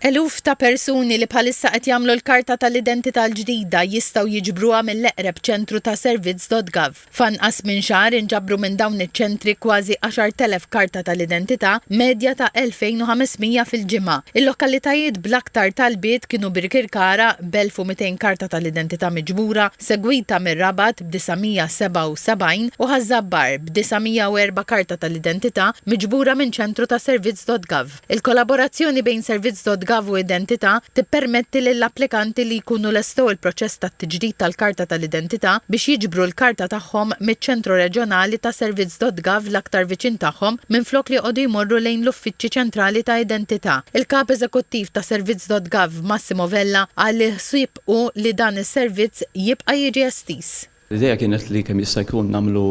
Eluf ta' persuni li bħalissa qed jagħmlu l-karta tal-identità l-ġdida jistgħu jiġbruha mill-eqreb ċentru ta' servizz.gov. F'anqas minn xahar inġabru minn dawn iċ-ċentri kważi 10,000 karta tal-identità, medja ta' 2,500 fil-ġimgħa. Il-lokalitajiet bl-aktar talbiet kienu Birkirkara b'1,200 karta tal-identità miġbura, segwita mir-Rabat b'977 u Ħaż-Żabbar b'904 karta tal-identità miġbura minn ċentru ta' servizz.gov. Il-kollaborazzjoni bejn Servizz.gov u Identità tippermetti lill-applikanti li jkunu lestew il-proċess tat-tiġdid tal-karta tal-identità biex jiġbru l-karta tagħhom miċ-ċentru reġjonali ta' Servizz.gov l-aktar viċin tagħhom minflok li joqogħdu jmorru lejn l-uffiċċji ċentrali ta' Identità. Il-Kap Eżekuttiv ta' Servizz.gov, Massimo Vella, qal li l-ħsieb hu li dan is-servizz jibqa' jiġi estiż. L-idea kienet li kemm jista' jkun nagħmlu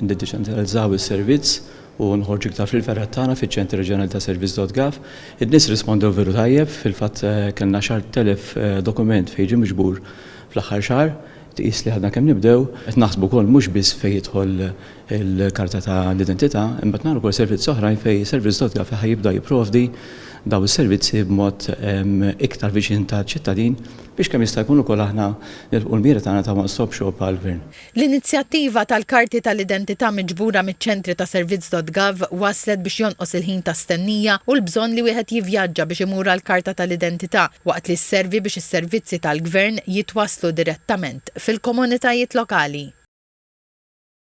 niddeċentralizzaw is-servizz u nħorġu iktar fil-fergħat tagħna fiċ-Ċentri Reġjonali ta' Servizz dot gov. In-nies rispondew veru tajjeb, fil-fatt kellna xi għadd telef dokument fejn ġie miġbur fl-aħħar xahar, tqis li għadna kemm nibdew. Qed naħsbu wkoll mhux biss fejn jidħol il-karta ta' l-identità, imma qed nagħmlu wkoll servizzi oħrajn fejn Servizz dot gov ħa jibda jipprovdi dawn is-servizzi b'mod iktar viċin taċ-ċittadin. biex kemm jista' jkun ukoll aħna nilħqu l-mira tagħna ta' One Stop Shop għall-Gvern. L-inizjattiva tal-karti tal-identità miġbura miċ-ċentri ta' Servizz.Gov wasslet biex jonqos il-ħin ta' stennija u l-bżonn li wieħed jivvjaġġa biex imur għall-karta tal-identità, waqt li sservi biex is-servizzi tal-Gvern jitwasslu direttament fil-komunitajiet lokali.